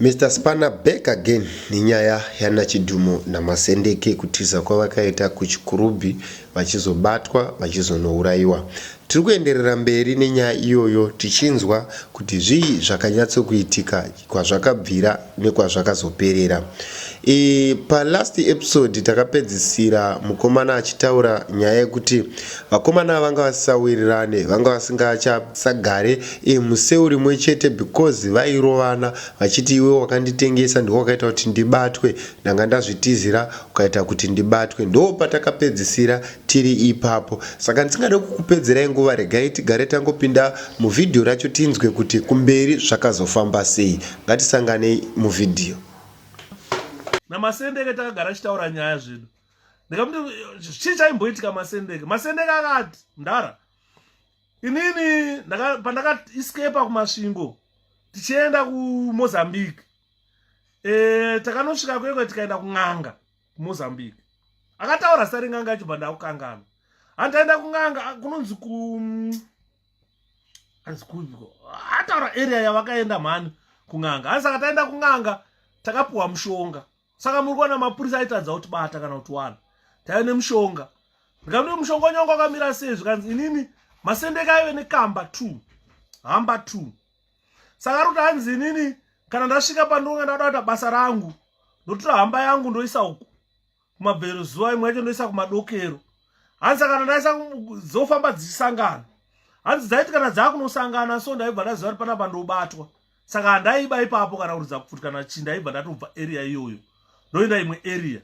Mister Spanner back again nenyaya yana Chidhumo naMasendeke kutiza kwavakaita kuChikurubhi vachizobatwa vachizonouraiwa. Tiri kuenderera mberi nenyaya iyoyo tichinzwa kuti zvii zvakanyatsokuitika kwazvakabvira nekwazvakazoperera. E, palast episode takapedzisira mukomana achitaura nyaya yekuti vakomana vanga vasisawirirane vanga vasingachasagare Iye museu rimwe chete because vairovana vachiti iwe wakanditengesa ndiwe wakaita kuti ndibatwe ndanga ndazvitizira ukaita kuti ndibatwe ndoopatakapedzisira tiri ipapo saka ndisingade kukupedzerai nguva regai tigare tangopinda muvhidhiyo racho tinzwe kuti kumberi zvakazofamba sei ngatisanganei muvhidhiyo namasendeke takagara achitaura nyaya zvedu ndikamuti chii chaimboitika masendeke masendeke akati mdhara inini pandakaescapa kumasvingo tichienda kumozambique e, takanosvika kwekwe tikaenda kun'anga kumozambique akataura zita ren'anga yacho bandakukangana handaenda kun'anga kunonzi ku hanzi kuiko ataura area yavakaenda mhani kun'anga hanzi saka taenda kun'anga takapiwa mushonga saka muri kuona mapurisa aitadza kuti bata kana kuti wana taive nemushonga ndikandii mushonga wanyanga wakamira sei zvikanzi inini masendeka aive nekamba two hamba two saka ari kuti hanzi inini kana ndasvika pandonga ndada kuita basa rangu ndotora hamba yangu ndoisa uku kumabvero zuva imwe yacho ndoisa kumadokero hanzi kana ndaisa dzofamba dzichisangana hanzi dzaiti kana dzaakunosangana so ndaibva ndaziva kuti panapa ndobatwa saka handaiba ipapo kana kuridza kuti kana chii ndaibva ndatobva area iyoyo ndoenda imwe area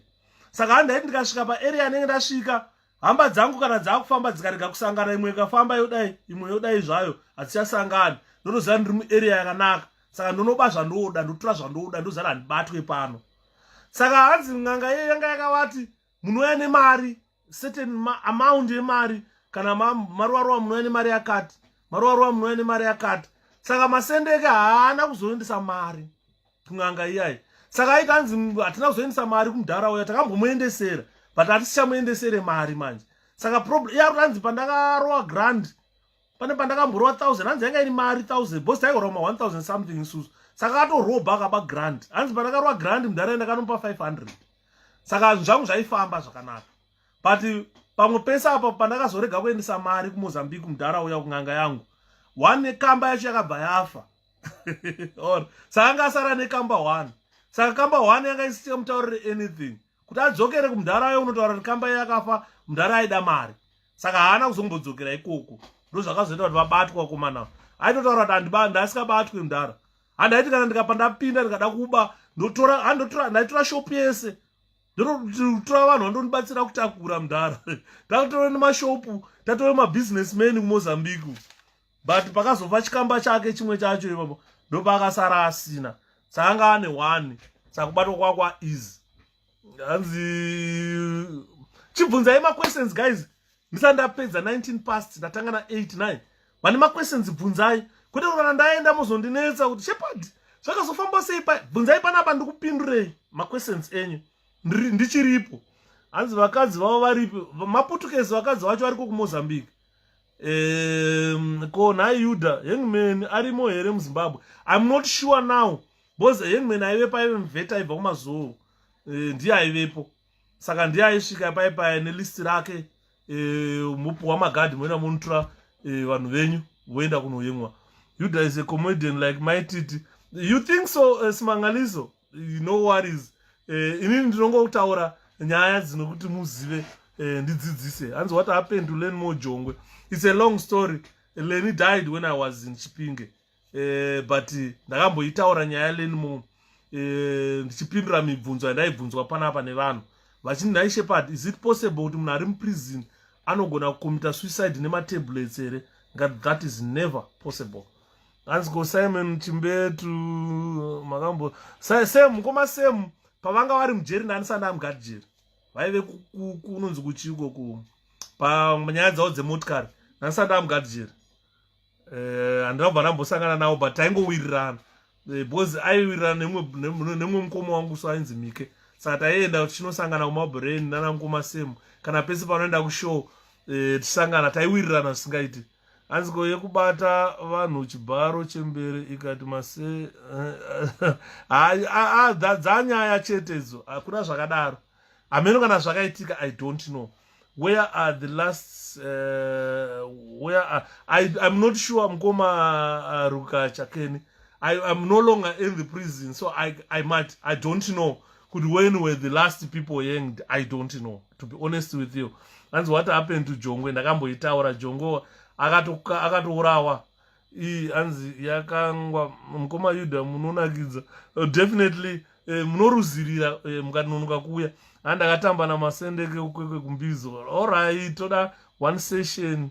saka handaiti ndikasvika paarea anenge ndasvika hamba dzangu kana dzaakufamba dzikarega kusangana imwe ikafamba yodai imwe yodai zvayo hadzichasangani ndotoziva ndiri muarea yakanaka saka ndonoba zvandoda ndotora zvandoda ndoziva handibatwe pano saka hanzi n'anga iye yanga yakavati munouya nemari certain ma amount yemari kana maruvaruva munouya nemari yakati maruvaruva munouya nemari yakati saka masendeke haana kuzoendesa mari kun'anga iyayi saka aikanzi hatina kuzoendesa mari kumudhara uya takambomuendesera but hatisichamuendesere mari manje saka problem iya ranzi pandakarowa grand pane pandakamborowa thousand hanzi yanga iri mari thousand bos taigorowa ma one thousand something isusu saka atoroba akaba grand hanzi pandakarowa grand mudhara enda kanopa five hundred saka zvinhu zvangu zvaifamba zvakanaka but pamwe pese apo pandakazorega kuendesa mari kumozambique mudhara uya kun'anga yangu one kamba yacho yakabva yafa or saka anga asara nekamba one saka kamba one yanga isisika mutaurire anything kuti adzokere kumudhara ayo unotaura kuti kamba yakafa mudhara aida mari saka haana kuzombodzokera ikoko ndozvakazoita kuti vabatwa komana aitotaura kuti andibanda asikabatwi mudhara handaiti kana ndikapa ndapinda ndikada kuba ndotora handotora ndaitora shop yese ndototora vanhu vandonibatsira kutakura mudhara takutore nemashopu tatore mabusiness man kumozambique but pakazova chikamba chake chimwe chacho ipapo ndopaakasara asina saanga ane one sakubatwa kwakwa easy hanzi chibvunzai maquestions guys ndisa ndapedza 19 past ndatanga na 8 9 vane maquestions bvunzai kwete kuti kana ndaenda mozondinetsa kuti shepard zvakazofamba sei pa bvunzai panapa ndikupindurei maquestions enyu ndichiripo hanzi vakadzi vavo varipi maputukesi vakadzi vacho variko kumozambique um, ko nhai yuda hangman arimo here muzimbabwe im not sure now bcause hangman aivepo aive mveta aibva kumazuwo eh, ndiye aivepo saka ndiye aisvika pai paya nelist rake eh, mopuwa magadhi moenda monotora eh, vanhu venyu voenda kunoyemwa yuda is a comedian like my titi you think so uh, simangaliso no worries uh, inini ndinongotaura nyaya dzinokuti muzive uh, ndidzidzise hanzi what happened to len mojongwe it's a long story leni died when i was in chipinge eh, but ndakamboitaura nyaya leni mu eh, ndichipindura mibvunzo yandaibvunzwa panapa nevanhu vachini nhai shepard is it possible kuti munhu ari muprison anogona kukomita suicide nematablets here ngat that is never possible hanzi ko simon chimbetu makambo sam mukoma sam pavanga vari mujeri nani sanda amugati jeri vaive kunonzi kuchiiko ku panyaya dzavo dzemotikari nani sanda amugati jeri eh, handina kubva ndambosangana nawo but taingowirirana eh, because aiwirirana nemumwe mukoma wangu so ainzi mike saka taienda tichinosangana kumabrain nana mukoma semu kana pese panoenda kushow eh, tisangana taiwirirana zvisingaiti hanzi ko yekubata vanhu chibharo chembere ikati mase haa dzanyaya chetedzo hakuna zvakadaro hameno kana zvakaitika i don't know where are the last uh, where are, I, i'm not sure mukoma uh, ruka chakeni I, i'm no longer in the prison so i, I might i don't know kuti when were the last people hanged i don't know to be honest with you hanzi what happened to jongwe ndakamboitaura jongwe akatourawa iyi hanzi yakangwa mukoma yuda munonakidza uh, definitely uh, eh, munoruzirira uh, eh, mukanonoka kuuya andakatamba namasendeke ukwekwe kumbizo orit toda one session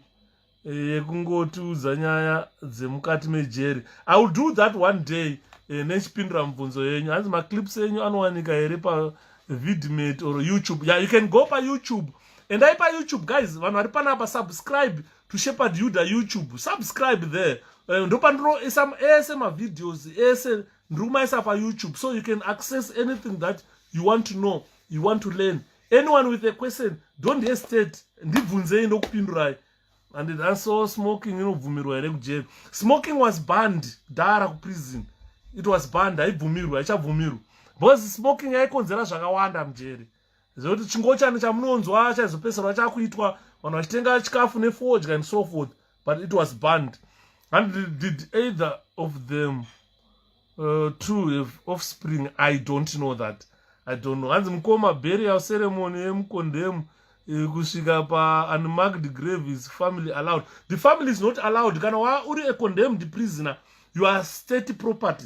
yekungotiudza nyaya dzemukati mejeri i will do that one day eh, nechipindura mubvunzo yenyu hanzi maclips enyu anowanika here pavidmate or youtube ya yeah, you can go payoutube endai payoutube guys vanhu vari panapa subscribe to shepherd yuda youtube subscribe there uh, eh, ndopandinoisa ese mavideos ese ndiri kumaisa payoutube so you can access anything that you want to know you want to learn anyone with a question don't hesitate ndibvunzei ndokupindurai and thanso smoking inobvumirwa here kujeri smoking was banned dara kuprison it was banned haibvumirwi haichabvumirwi because smoking yaikonzera zvakawanda mujeri zvokuti chingochani chamunonzwa chaizopeserwa chakuitwa vanhu vachitenga chikafu nefodya and so forth but it was banned and did either of them uh, two have offspring i don't know that i don't know hanzi mukoma burial ceremony yemukondemu eh, kusvika paunmarked grave is family allowed the family is not allowed kana wa uri a condemned prisoner you are state property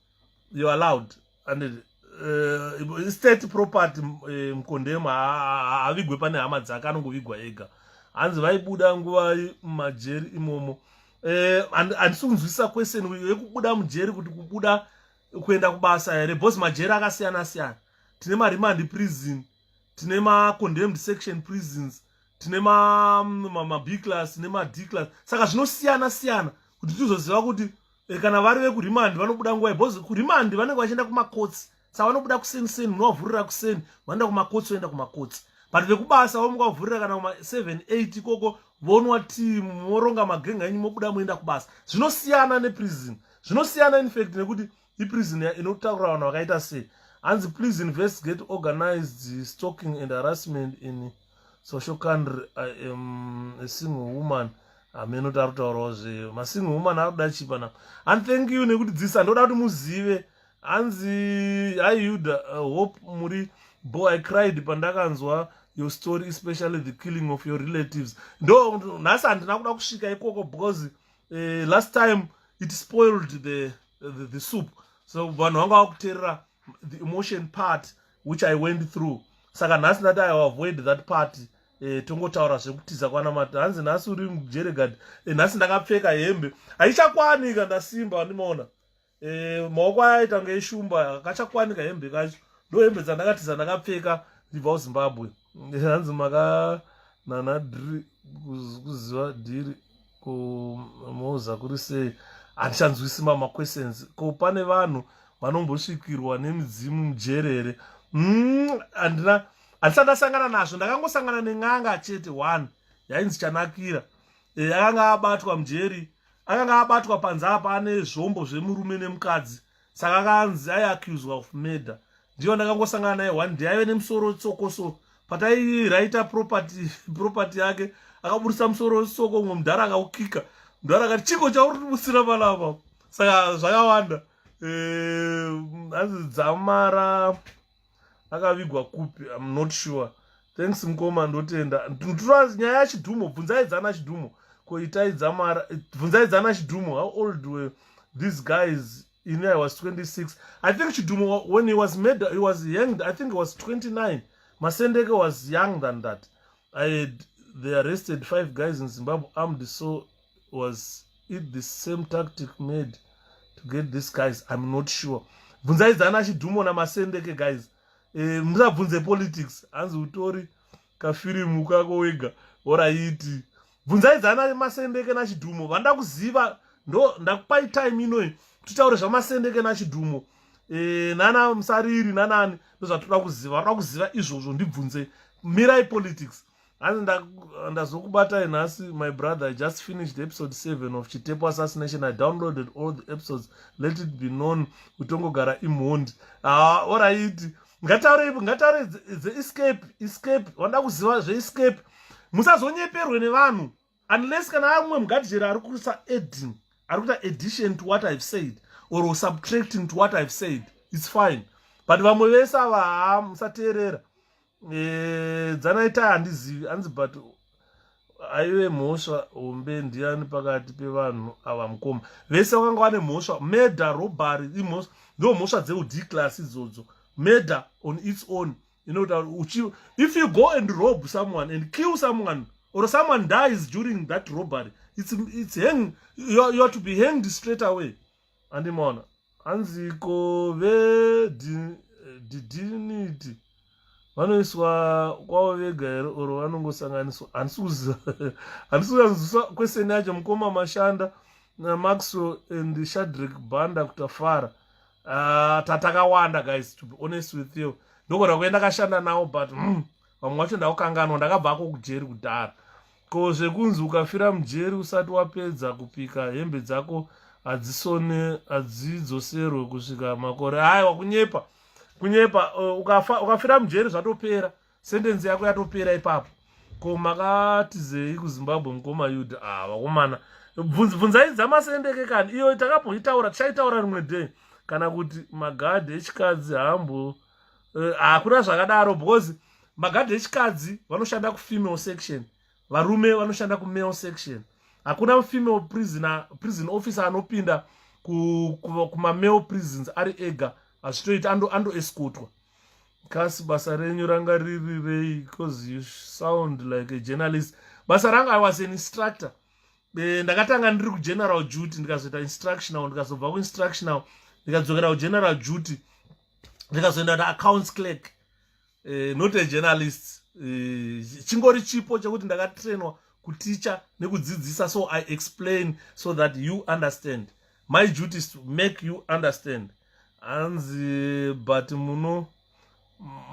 you allowed and uh, state property uh, mkondemu haavigwe pane hama dzake anongovigwa ega hanzi vaibuda nguva mumajeri imomo eh, handisi kunzwisisa question yekubuda mujeri kuti kubuda kuenda kubasa here bcause majeri akasiyana siyana tine maremand prison tine macondemned section prisons tine mabclass mm, nemad class saka zvinosiyana siyana kuti tizoziva kuti eh, kana vari vekurimandi vanobuda nguva because kurimandi vanenge vachienda kumakotsi sa vanobuda kuseni seni munovavhurira kuseni vanoenda kumakotsi voenda kumakotsi but vekubasa vomuka vavhurira kana kuma 7 8 ikoko vonwa ti moronga magenga enyu mobuda moenda kubasa zvinosiyana neprison zvinosiyana infact nekuti iprison inotaura vanhu vakaita sei hanzi please investigate organized stalking and harassment in so shokandri i am a single woman hameno tari kutaurawo zve masingle woman ari kuda chipana and thank you nekuti dzisa ndoda kuti muzive hanzi haiuda uh, hope muri bo i cried pandakanzwa your story especially the killing of your relatives ndo nhasi handina kuda kusvika ikoko because uh, last time it spoiled the, the, the soup so vanhu vanga vakuterera the emotion part which i went through saka nhasi ndati i avoid that part eh, tongotaura zvekutiza kwanamata hanzi nhasi uri mujeregad eh, nhasi ndakapfeka hembe haichakwanika ndasimba wandimaona eh, maoko aya aita ngeishumba kachakwanika hembe kacho ndo hembe dzandakatiza ndakapfeka ndibva kuzimbabwe hanzi makanana dhiri kuziva dhiri kumoza kuri sei handichanzwisi mama questions ko pane vanhu vanombosvikirwa nemidzimu mujerere hmm, handina mm, handisati ndasangana nazvo ndakangosangana nen'anga chete one yainzi chanakira e, akanga abatwa mujeri akanga abatwa panze apa ane zvombo zvemurume nemukadzi saka akanzi ai accused of murder ndiyo ndakangosangana naye one day aive nemusoro tsoko so patairaita property property yake akaburitsa musoro tsoko umwe mudhara akaukika mudhara akati chiko chauri tibutsira vana ava saka zvakawanda eh, anzi dzamara akavigwa kupi im not sure thanks mkoma ndotenda tunozi nyaya yachidhumo bvunzaidzana chidhumo koitaidzamara bvunzaidzana chidhumo how old were these guys in i was 26 i think chidhumo when he was made he was hanged i think he was 29 masendeke was young than that i had they arrested five guys in zimbabwe armed so was it the same tactic made to get this guys i'm not sure bvunzai zana chidhumo namasendeke guys e, eh, musabvunze politics hanzi utori kafirimu kako wega oraiti bvunzai zana masendeke nachidhumo vanoda kuziva ndo ndakupai time inoyi titaure zvamasendeke nachidhumo e, nana musariri nanani ndozvatoda kuziva vanoda kuziva izvozvo ndibvunze mirai politics hanzi ndazokubatai nhasi my brother i just finished episode 7 of chitepo assassination i downloaded all the episodes let it be known kutongogara imhondi ah, oraiti ngataure ngataure dzeescape escape wanda kuziva zveescape musazonyeperwe nevanhu unless kana amwe mugadhijeri ari kuisa adding ari kuita addition to what ihave said or subtracting to what ihave said its fine but vamwe vese ava haa musateerera eh, dzanaita handizivi hanzi but aive mhosva hombe ndiani pakati pevanhu ava mukoma vese vakanga vane mhosva murder robbery imhosva ndo mhosva dzeudclass idzodzo murder on its own inotaura uchi if you go and rob someone and kill someone or someone dies during that robbery it's, it's hang you're, you're to be hanged straight away andimona hanzi ko vedidiniti vanoiswa kwavo vega here or vanongosanganiswa handisi kuziva handisi kuyanzwiswa kweseni yacho mukoma mashanda namaxwell and shadrick banda kutafara uh, tatakawanda guys to be honest with you ndogona kuenda kashanda nawo but mm, vamwe wacho ndakukanganwa ndakabva ako kujeri kudhara ko zvekunzi ukafira mujeri usati wapedza kupika hembe dzako hadzisone hadzidzoserwe kusvika makore aya wakunyepa kunyepa uh, ukafira mujeri zvatopera sentence yako yatopera ipapo ko makatizei kuzimbabwe mukoma yud ah vakomana bvunzai dzamasendeke kani iyo takambozvitaura tichaitaura rimwe day kana kuti magadhi echikadzi hambo eh, hakuna zvakadaro because magadhi echikadzi vanoshanda kufemale section varume vanoshanda kumale section hakuna female prisoner prison officer anopinda kumamale prisons ari ega hazvitoiti andoeskotwa ando kasi basa renyu ranga riri rei because you sound like a journalist basa ranga i was an instructor eh, ndakatanga ndiri kugeneral duty ndikazoita instructional ndikazobva kuinstructional ndikadzokera kugeneral duty ndikazoenda na accounts clerk eh, not a journalist eh, chingori chipo chekuti ndakatrainwa kuticha nekudzidzisa so i explain so that you understand my duty is to make you understand hanzi but muno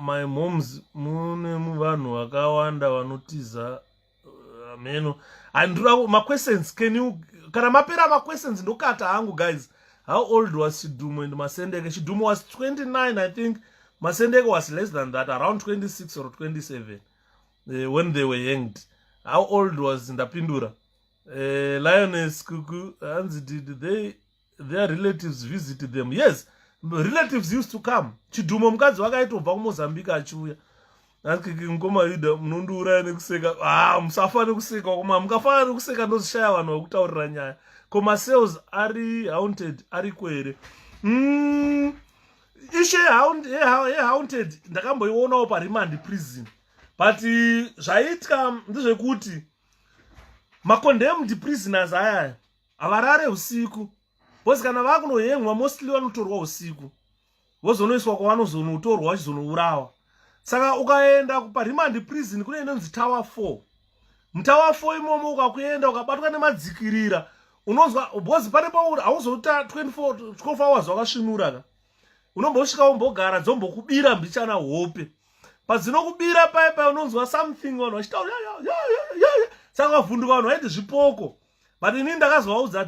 my moms mune muvanhu vakawanda vanotiza uh, meno handira maquestions can you kana mapera maquestions ndokata hangu guys how old was chidumo and masendeke chidumo was 29 i think masendeke was less than that around 26 or 27 uh, when they were hanged how old was ndapindura uh, lioness kuku hanzi did they their relatives visit them yes relatives used to come chidhumo mukadzi wake aitobva kumozambique achiuya akiki mukoma yuda munondiuraya nekuseka ah musafa nekuseka koma mukafana nekuseka ndozishaya vanhu vakutaurira nyaya ko masales ari haunted ariko here mm, ishe yehaunted eh, eh, ndakamboionawo paremand prison but zvaiitwa ndezvekuti macondemned prisoners ayaya havarare usiku bcause kana vakunohemwa mostly vanotorwa usiku vozonoiswa kwavanozonotorwa vachizonourawa saka ukaenda parimandi prison kune inonzi tower four mutower four imomo ukakuenda ukabatwa nemadzikirira unonzwa bcause pane pauri hauzoita 24 hours wakasvinuraka unombosvika wombogara dzombokubira mbichana hope padzinokubira paye paye unonzwa something vanhu vachitaura saka vavhunduka vanhu vaiti zvipoko but ini ndakazovaudza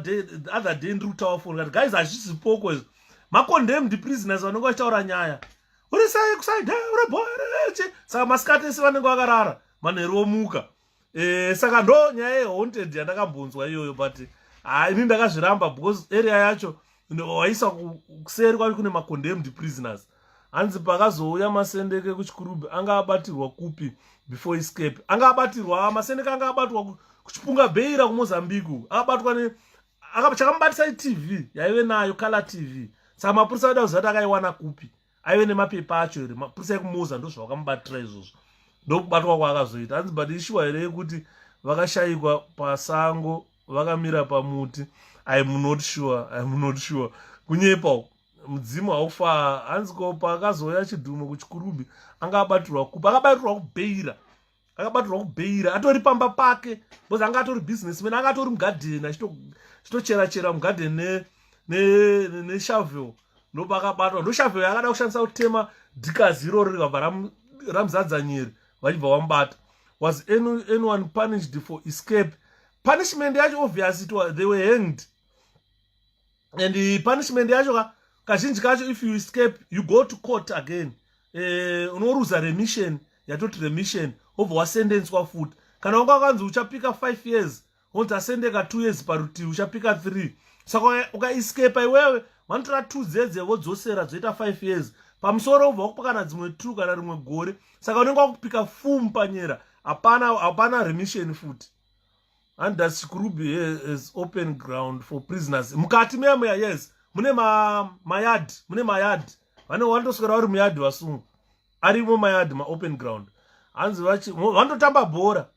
other day ndiri kutaura foni kati guys hazvisi poko izvo macondemned prisoners vanenge vachitaura nyaya uri sei kusaida uri boereche saka masikati ese vanenge vakarara manheru omuka e, saka ndo nyaya yehaunted yandakambonzwa iyoyo but ha ini ndakazviramba because area yacho waisa kuseri kwave kune macondemned prisoners hanzi pakazouya masendeke kuchikurubhi anga abatirwa kupi before escape anga abatirwa masendeke anga abatwa kuchipunga beira kumozambique akabatwa ne chakamubatisa itv yaive nayo color tv saka mapurisa aida kuzati akaiwana kupi aive nemapepa acho here mapurisa ekumuza ndozvavakamubatira izvozvo ndokubatwa kwaakazoita hanzi but ishuwa here yekuti vakashayikwa pasango vakamira pamuti iam not sure iam not sure kunyepa uku mudzimu haufa hanzi ko paakazouya chidhumo kuchikurumbi anga abatirwa kupi akabatirwa kubeira akabatirwa kubeira atori pamba pake bcause anga atori businessman anga atori mugadheni achitochera chera mugadheni neshavel ne, ne, ne ndopa akabatwa ndoshavel yakada kushandisa kutema dhikazi iroro rikabva ramuzadza ram nyeri vachibva vamubata was any, anyone punished for escape punishment yacho obvious it was, they were hanged and eh, punishment yacho ka kazhinji kacho if you escape you go to court again eh, unoruza remission yatoti remission obva wasendencwa futi kana wanga wakanzi uchapika 5 years wonzi asendeka 2 years parutivi uchapika 3 saka ukaescapa iwewe vanotora 2 dzedze vodzosera dzoita 5 years pamusoro ubva wakupa kana dzimwe 2 kana rimwe gore saka unenge wakupika fum panyera hapana hapana remission futi under chikurubi has open ground for prisoners mukati meya meya yes mune mayard mune mayard vane vanotoswera vari muyard vasungwa arimo mayard maopen ground hanzi vanototamba bhora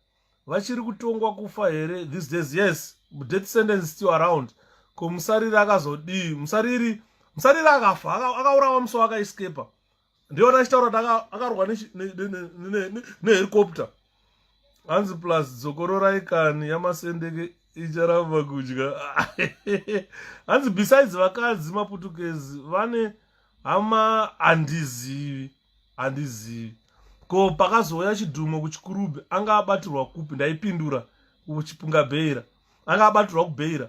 vachiri kutongwa kufa here these days yes death sentence still around ko musariri akazodii musariri musariri akafa akaurawa musi waakaescapa ndiona achitaura kuti akarwa nehelicopter hanzi plus dzokororai kani yamasendeke icharamba kudya hanzi besides vakadzi maputukezi vane hama handizivi handizivi ko pakazouya chidhumo kuchikurubhi anga abatirwa kupi ndaipindura kuchipunga bheira anga abatirwa kubheira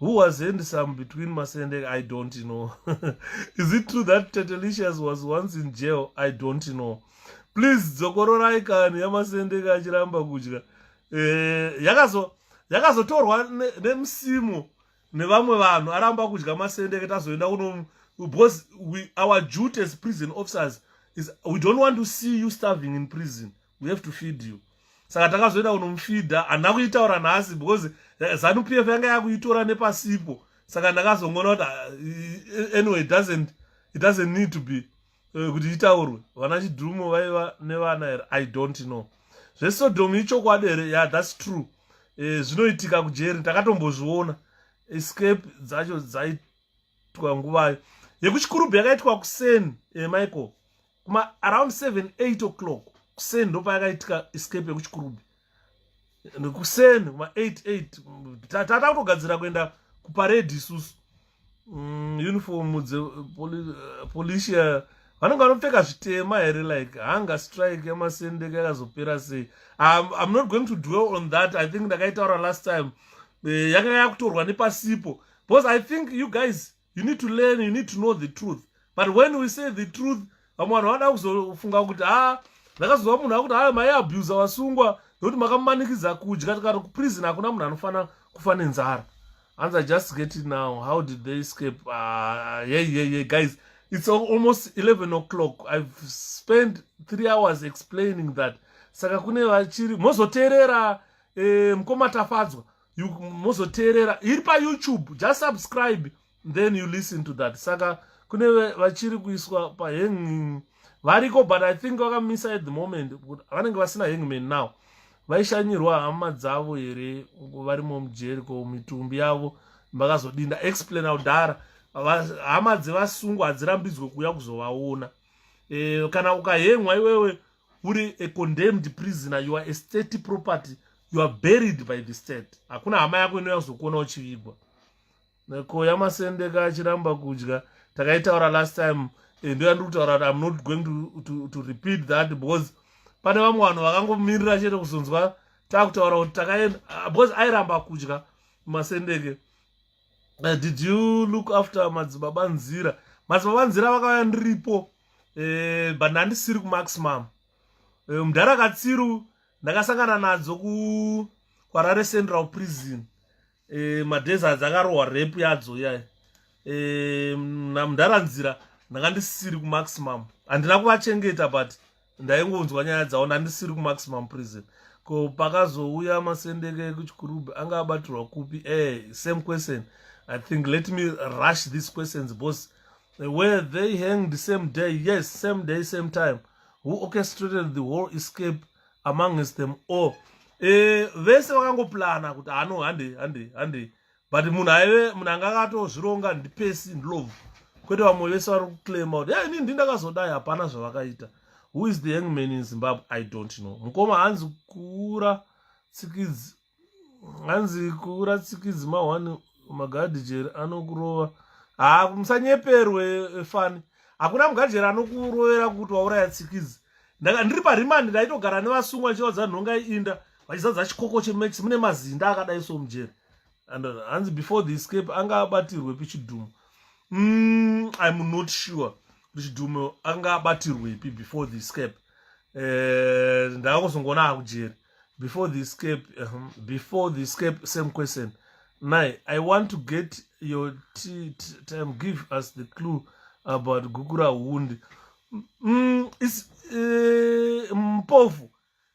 Who was handsome between Masende? I don't know. Is it true that Tetelicious was once in jail? I don't know. Please, dzokororai kani yaMasende kachiramba kudya. Eh, yakazo yakazotorwa nemusimu ne nevamwe vanhu aramba kudya Masende ketazoenda kuno because we, our duty as prison officers is we don't want to see you starving in prison. we have to feed you saka takazoenda kunomufidha handina kuitaura nhasi because eh, zanu p f yanga yakuitora nepasipo saka ndakazongona kuti ah, eh, anyway doesn't it doesn't need to be eh, kuti itaurwe vana chidhumo vaiva nevana here i don't know zvesodomu ichokwadi here ya thats true zvinoitika kujeri takatombozviona escape dzacho dzaitwa nguvayo yekuchikurubhu yakaitwa kuseni michael kuma around 7 8 o'clock kuseni ndopayakaitika escape yekuchikurube nekuseni kuma 8 8 tata kutogadzira kuenda kuparedi isusu mm, uniform dze eh, policia eh, vanenge vanopfeka zvitema here like hunger strike yamasendeka yakazopera sei im not going to dwell on that i think ndakaitaura last time eh, yanga yakutorwa nepasipo because i think you guys you need to learn you need to know the truth but when we say the truth vamwe vanhu vanoda kuzofunga kuti ha ah, ndakazova munhu akuti hayo mai abusa wasungwa nokuti makamumanikidza kudya tikati kuprison hakuna munhu anofanira kufa nenzara hanzi i just get it now how did they escape uh, ah, ye yeah, ye yeah, ye yeah, guys it's almost 11 o'clock i've spent three hours explaining that saka kune vachiri mozoteerera eh, mukoma tafadzwa you mozoteerera iri payoutube just subscribe then you listen to that saka kune vachiri kuiswa pahanging variko but i think vakamisa at the moment vanenge vasina hangman now vaishanyirwa hama dzavo here varimo mujeri ko mitumbi yavo makazodinda explain audhara hama dzevasungwa hadzirambidzwe kuuya kuzovaona e, kana ukahengwa iwewe uri a condemned prisoner you are a state property you are buried by the state hakuna hama yako inouya kuzokuona uchivigwa ko yamasendeka achiramba kudya takaitaura last time eh, ndo yandiri kutaura kuti im not going to, to, to repeat that because pane vamwe vanhu vakangomirira chete kuzonzwa takutaura kuti takaenda ah, because airamba kudya masendeke uh, did you look after madzibaba nzira madzibaba nzira vakauya ndiripo uh, but ndandisiri kumaximum uh, eh, mdhara katsiru ndakasangana nadzo ku kwarare central prison uh, madays adzi akarohwa rep yadzo yai uh, namdhara nzira ndanga ndisiri kumaximum handina kuvachengeta but ndaingonzwa nyaya dzavo ndandisiri kumaximum prison ko pakazouya masendeke ekuchikurubhi anga abatirwa kupi e same question i think let me rush these questions bos were they hanged same day yes same day same time who orchestrated the whole escape amongst them all e vese vakangoplana kuti hano handei handei handei but munhu aive munhu anga akatozvironga ndipesi ndlove kwete vamwe vese vari kuclaima kuti hey, nini ndakazodai hapana zvavakaita who is the young man in zimbabwe i don't know mukoma hanzi kuura tsikidzi hanzi kuura tsikidzi mahwani magadijeri anokurova haa musanyeperwe eh, fani hakuna mugadijeri anokurovera kuti wauraya tsikidzi ndiri parimandi ndaitogara nevasungwa chiva dzanhonga inda vachizadza chikoko chemax mune mazinda akadai so mujeri and uh, hanzi before the escape anga abatirwepi chidhumo mm, im not sure kuti chidhumo anga abatirwepi before the escape eh, ndakuzongoona akujeri before the escape um, before the escape same question nai i want to get your time give us the clue about gukura hundi mm, is, uh, mpofu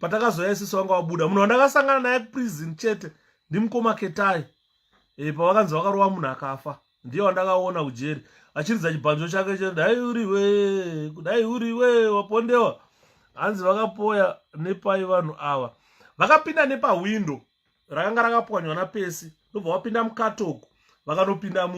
patakazouya isisi vanga vabuda munhu wandakasangana naye kuprison chete ndimukoma ketai e, pavakanzi vakarova munhu akafa ndiye wandakaona kujeri achiridza chibhanjo chake chete dai uriwe kudai uriwe wapondewa hanzi vakapoya nepai vanhu ava vakapinda nepahwindo rakanga rakapwanywa napesi ndobva vapinda mukatoko vakanopinda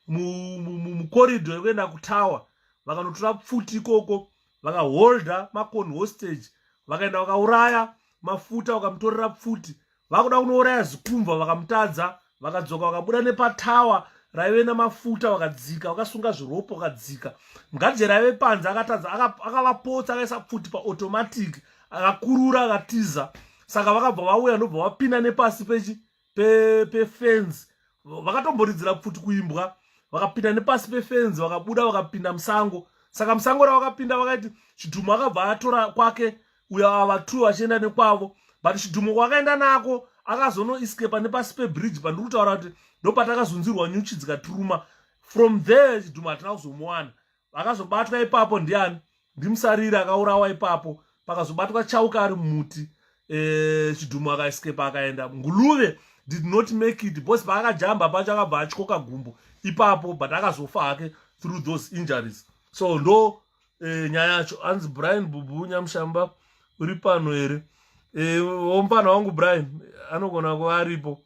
mukorido yekuenda kutawa vakanotora pfuti ikoko vakaholda makoni hostage vakaenda vakauraya mafuta vakamutorera pfuti vakuda kunouraya zikumva vakamutadza vakadzoka vakabuda nepatawa raive namafuta vakadzika vakasunga zviropo vakadzika mgaje raive panze akatadza akavapotsa akaisa pfuti paautomatic akakurura akatiza saka vakabva vauya ndobva vapinda nepasi pechi pefenzi vakatomboridzira pfuti kuimbwa vakapinda nepasi pefenzi vakabuda vakapinda musango saka musango ravakapinda vakaiti chidhumo akabva atora kwake uyo ava two vachienda nekwavo but chidhumo kwakaenda nako akazonoiskepa nepasi pebridge pandiri kutaura kuti ndopatakazunzirwa nyuchi dzikatiruma from there chidhumo hatina kuzomuwana akazobatwa ipapo ndiani ndimusariri akaurawa ipapo pakazobatwa chauka ari mumuti eh, chidhumu akaeskepa akaenda nguluve did not make it bcause paakajamba pacho akabva atyoka gumbo ipapo but akazofa hake through those injuries so ndo eh, nyaya yacho anzi brian bubu nyamushamba uri pano here eh, omupana wangu brian anogona kuva aripo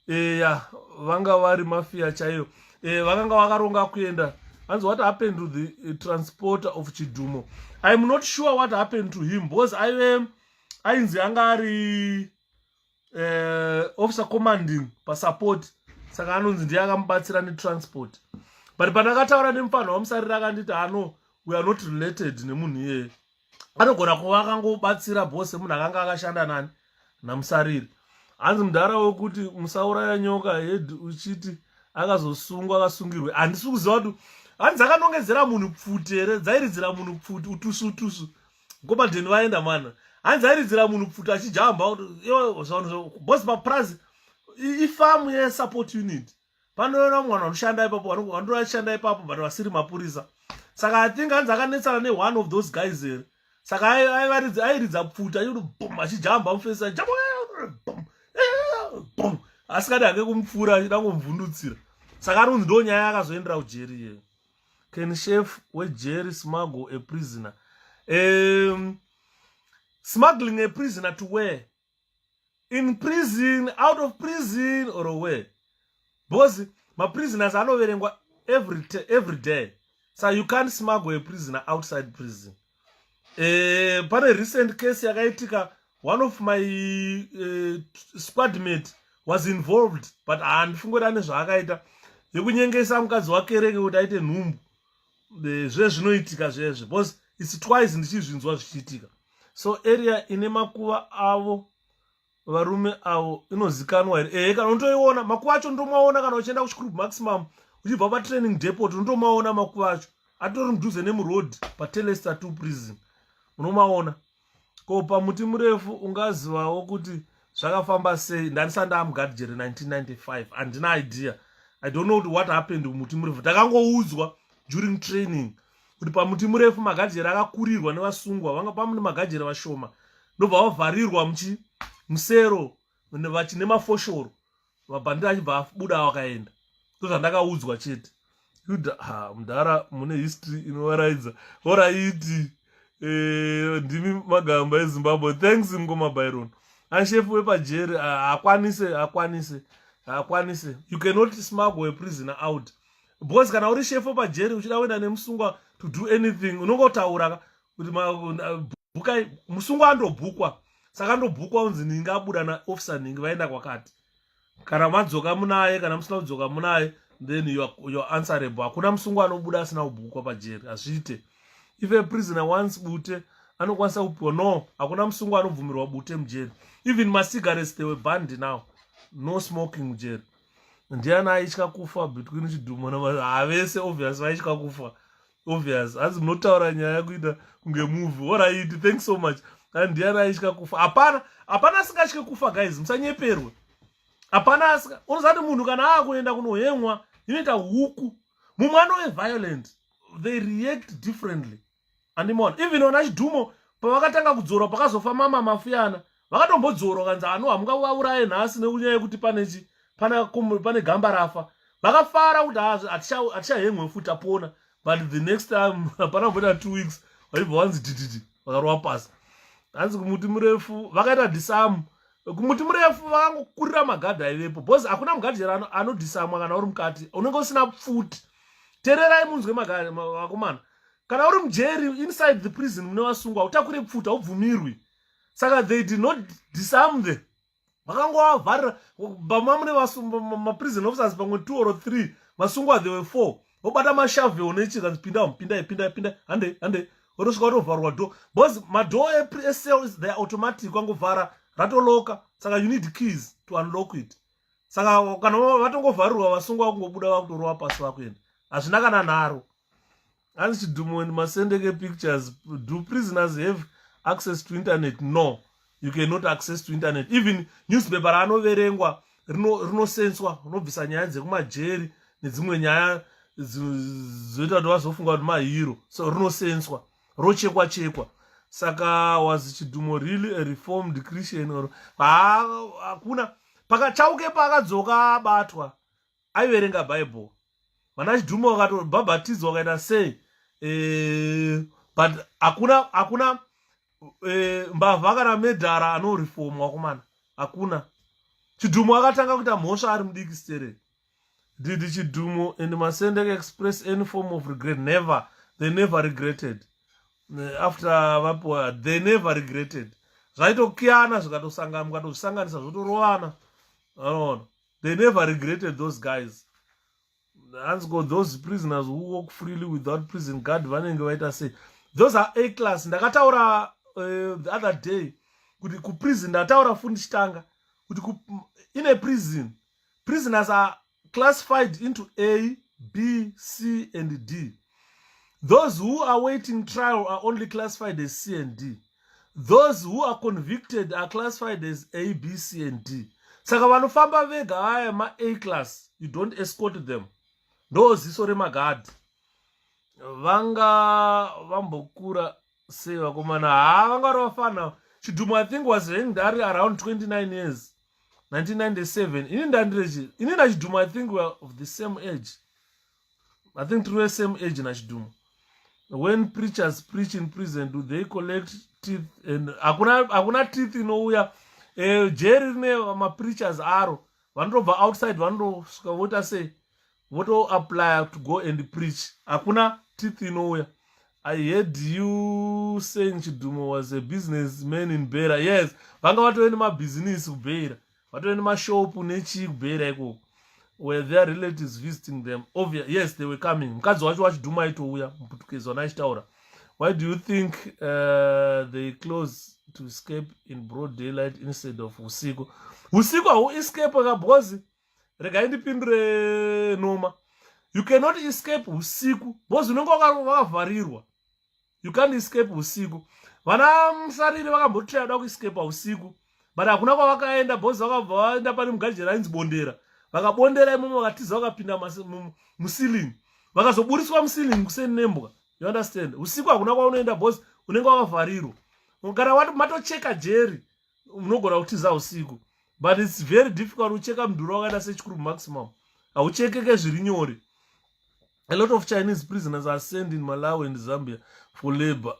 eya vanga vari mafia chaiyo e, vakanga vakaronga kuenda hanzi what happened to the eh, transporter of chidhumo iam not sure what happened to him because aive ainzi anga ari uh, officer commanding pasupport saka anonzi ndiye akamubatsira netransport but pandakataura nemufanha wamusarira akanditi ano we are not related nemunhu iyeye anogona kuva akangobatsira bose munhu akanga akashanda nani namusariri hanzi mudhara wekuti musauraya nyoka hed uchiti akazosungwa akasungirwe handisi kuziva kuti hanzi akanongedzera munhu pfuti here dzairidzira munhu pfuti utusu utusu ngomadheni vaenda mana hanzi airidzira munhu pfuti achijamba kuti bose papurazi ifamu yesupport unit panoona umwe vanhu vanoshanda ipapo vanonge vachishanda ipapo but vasiri mapurisa saka i think anzi akanetsana neone of those guys here saka aivaridza airidza pfuta iuti bum achijamba mufesi ajamba bum bum asikadi hake kumupfuura achida ngomvundutsira saka ari kunzi ndo nyaya yakazoendera kujeri iyeyo can chef wejeri smuggle a prisoner um, smuggling a prisoner to where in prison out of prison or where because maprisoners anoverengwa every, every day so you can't smuggle a prisoner outside prison e, pane recent case yakaitika one of my uh, eh, squadmate was involved but handifungi kuti ane zvaakaita yekunyengesa mukadzi wakereke kuti aite nhumbu eh, zvezvinoitika zvezve because its twice ndichizvinzwa zvichiitika so area ine makuva avo varume avo inozikanwa here ehe kana unotoiona makuva acho ndomaona kana uchienda kuchicrub maximum uchibva patraining depot unotomaona makuva acho atori mudhuze nemuroad patelesta two prison unomaona ko pamuti murefu ungazivawo kuti zvakafamba sei ndandisati ndamugadijere 1995 handina idea i don't know kuti what happened kumuti murefu takangoudzwa during training kuti pamuti murefu magajere akakurirwa nevasungwa vanga pamune magajere vashoma ndobva vavharirwa muchi musero vachine mafoshoro mabhandira achibva abuda wakaenda ndozvandakaudzwa chete yuda ha mudhara mune history inovaraidza horaiti e, eh, ndimi magamba ezimbabwe thanks mkoma byron anshefu wepajeri hakwanise ah, hakwanise hakwanise you cannot smuggle a prisoner out because kana uri shefu pajeri uchida kuenda nemusungwa to do anything unongotaura kuti bukai musungwa andobhukwa saka ndobhukwa unzi ninge abuda naofficer ninge vaenda kwakati kana madzoka munaye kana musina kudzoka munaye then your, your answerable hakuna musungwa anobuda asina kubhukwa pajeri hazviite if a prisoner once bute anokwanisa kupiwa no hakuna musungwa anobvumirwa bute mujeri even macigarettes they were banned now no smoking mujeri ndiani aitya kufa between chidhumo havese obvious vaitya kufa obvious hanzi munotaura nyaya kuita kunge movie orit thanks so much and ndiani aitya kufa hapana hapana asingatye kufa guys musanyeperwe hapana asika unozati munhu kana akuenda kunohemwa inoita huku mumwe anove violent they react differently andimona even ona chidhumo pavakatanga kudzorwa pakazofa mama mafuyana vakatombodzora ukanzi ano hamungawauraye nhasi nekunyaya yekuti pane chi pane gamba rafa vakafara kuti hatichahemwe futi apona but the next time hapana kumboita two weeks vaibva wanzi tititi vakarova pasi hanzi kumuti murefu vakaita disamu kumuti murefu vakangokurira magadhi aivepo bcause hakuna mugadhi chero anodisamwa kana uri mukati unenge usina pfuti tererai munzwe vakomana kana uri mujeri inside the prison mune vasungwa utakure pfuti haubvumirwi saka they did not disarm them vakangowavharira bama mune maprison officers pamwe two or three vasungwa they were four vobata mashave onechika pinda pinda pinda pinda hande hande otosvika otovharwa do bcause madoo ecells theyare automatic wangovhara ratoloka saka you need keys to unlock it saka kana vatongovharirwa vasungwa vakungobuda vakutorova pasi vakuenda hazvina kana nharo hanzi chidumo and masendeke pictures do prisoners have access to internet no you cannot access to internet even newspaper raanoverengwa rinosenswa rino unobvisa nyaya dzekumajeri nedzimwe nyaya dzoita kuti vazofunga kuti mahiro so rinosenswa rochekwa chekwa saka was chidumo really a reformed christian or hakuna pakachauke paakadzoka abatwa aiverenga bible vana chidhuma vakatobhabhatidzwa vakaita sei eh, but hakuna hakuna eh, mbavha kana medhara anorifom wakomana hakuna chidhumo akatanga kuita mhosva ari mudiki stere didi chidhumo and masendek express any form of regret never they never regretted eh, after vapiwa they never regretted zvaitokiyana zvikatosangana mukatozvisanganisa zvotorovana anoona they never regretted those guys hanzi ko those prisoners who walk freely without prison guard vanenge vaita sei those are a class ndakataura uh, the other day kuti kuprison ndataura futi ndichitanga kuti in a prison prisoners are classified into a b c and d those who are waiting trial are only classified as c and d those who are convicted are classified as a b c and d saka vanofamba vega vaya ma-a class you don't escort them ndo ziso remagadhi vanga vambokura sei vakomana haa vanga vari vafana chidhumo i think was hanged ari around 29 years 1997 ini ndandirechi ini nachidhumo i think weare of the same age i think tiri same age nachidhumo when preachers preach in prison do they collect teeth and hakuna teeth inouya eh, jeri rine mapreachers aro vanotobva outside vanotosvika voita sei votoapply to go and preach hakuna teeth inouya i heard you saying chidhumo was a business man in bera yes vanga vatove nemabhizinisi kubeira vatove nemashopu nechii kubhera ikoko were their relatives visiting them obvious yes they were coming mukadzi wacho wachidhuma aitouya muputukezi wana achitaura why do you think uh, they close to escape in broad daylight instead of usiku usiku hau escape ka because regai ndipindure noma you cannot escape usiku because unenge wakavharirwa you can't escape usiku vana musariri vakambotira da kuescapa usiku but hakuna kwavakaenda bos vakabva vaenda pane mugajeri ainzi bondera vakabondera imomo vakatiza vakapinda musilling vakazoburitswa musilling kuseni nembwa you understand usiku hakuna kwaunoenda bos unenge wakavharirwa kana wati matocheka jeri unogona kutiza usiku but its very difficult ucheka mudhuri wakaenda sechikuru maximum hauchekeke zviri nyore a lot of chinese prisoners are sent in malawi and zambia for labor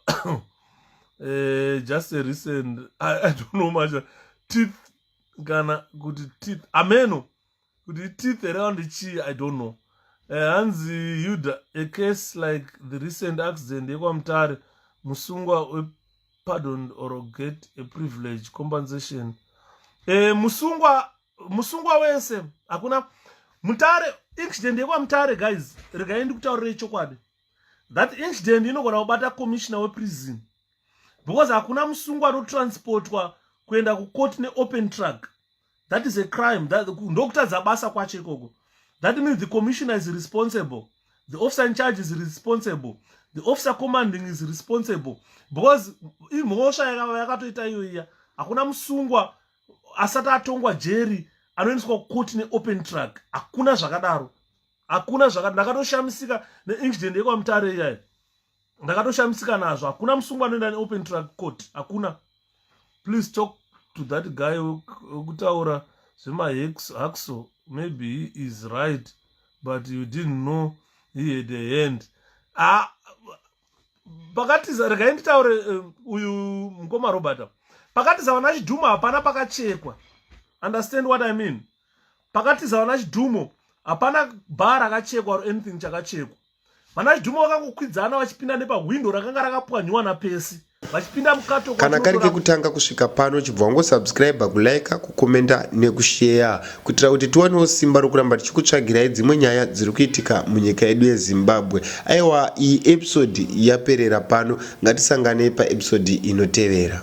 uh, just a recent I, i don't know much teeth kana kuti teeth ameno kuti teeth here kandi chii i don't know uh, hanzi yuda a case like the recent accident yekwamutare musungwa wepardon or get a privilege compensation uh, musungwa musungwa wese hakuna mutare incident yekwamutare guys regai ndikutaurire chokwadi that incident inogona kubata commissioner weprison because hakuna musungwa anotransportwa kuenda kucourt neopen truck that is a crime ndokutadza basa kwacho ikoko that means the commissioner is responsible the officer in charge is responsible the officer commanding is responsible because imhosva yakatoita iyoiya hakuna musungwa asati atongwa jeri anoendeswa kukoti neopen truck hakuna zvakadaro hakuna zvakadaro ndakatoshamisika neincident yekwamutare iyayo ndakatoshamisika nazvo hakuna musungwa anoenda neopen truck court hakuna please talk to that guy wekutaura zvemahaxo maybe he is right but you didn't know he had a hand ah, pakatiza regai nditaure eh, uyu mukoma robert pakatiza vana chidhumo hapana pakachekwa understand what i mean pakatiza vana chidhumo hapana bha rakachekwa or anything chakachekwa vana chidhumo vakangokwidzana vachipinda nepahwindo rakanga rakapwanyiwa napesi vachipinda mukato kana kari kekutanga kusvika pano chibva wangosubscribe kulike kukomenta nekusheya kuitira kuti tiwanewo simba rokuramba tichikutsvagirai dzimwe nyaya dziri kuitika munyika yedu yezimbabwe aiwa iyi episodi yaperera pano ngatisanganei paepisodi inotevera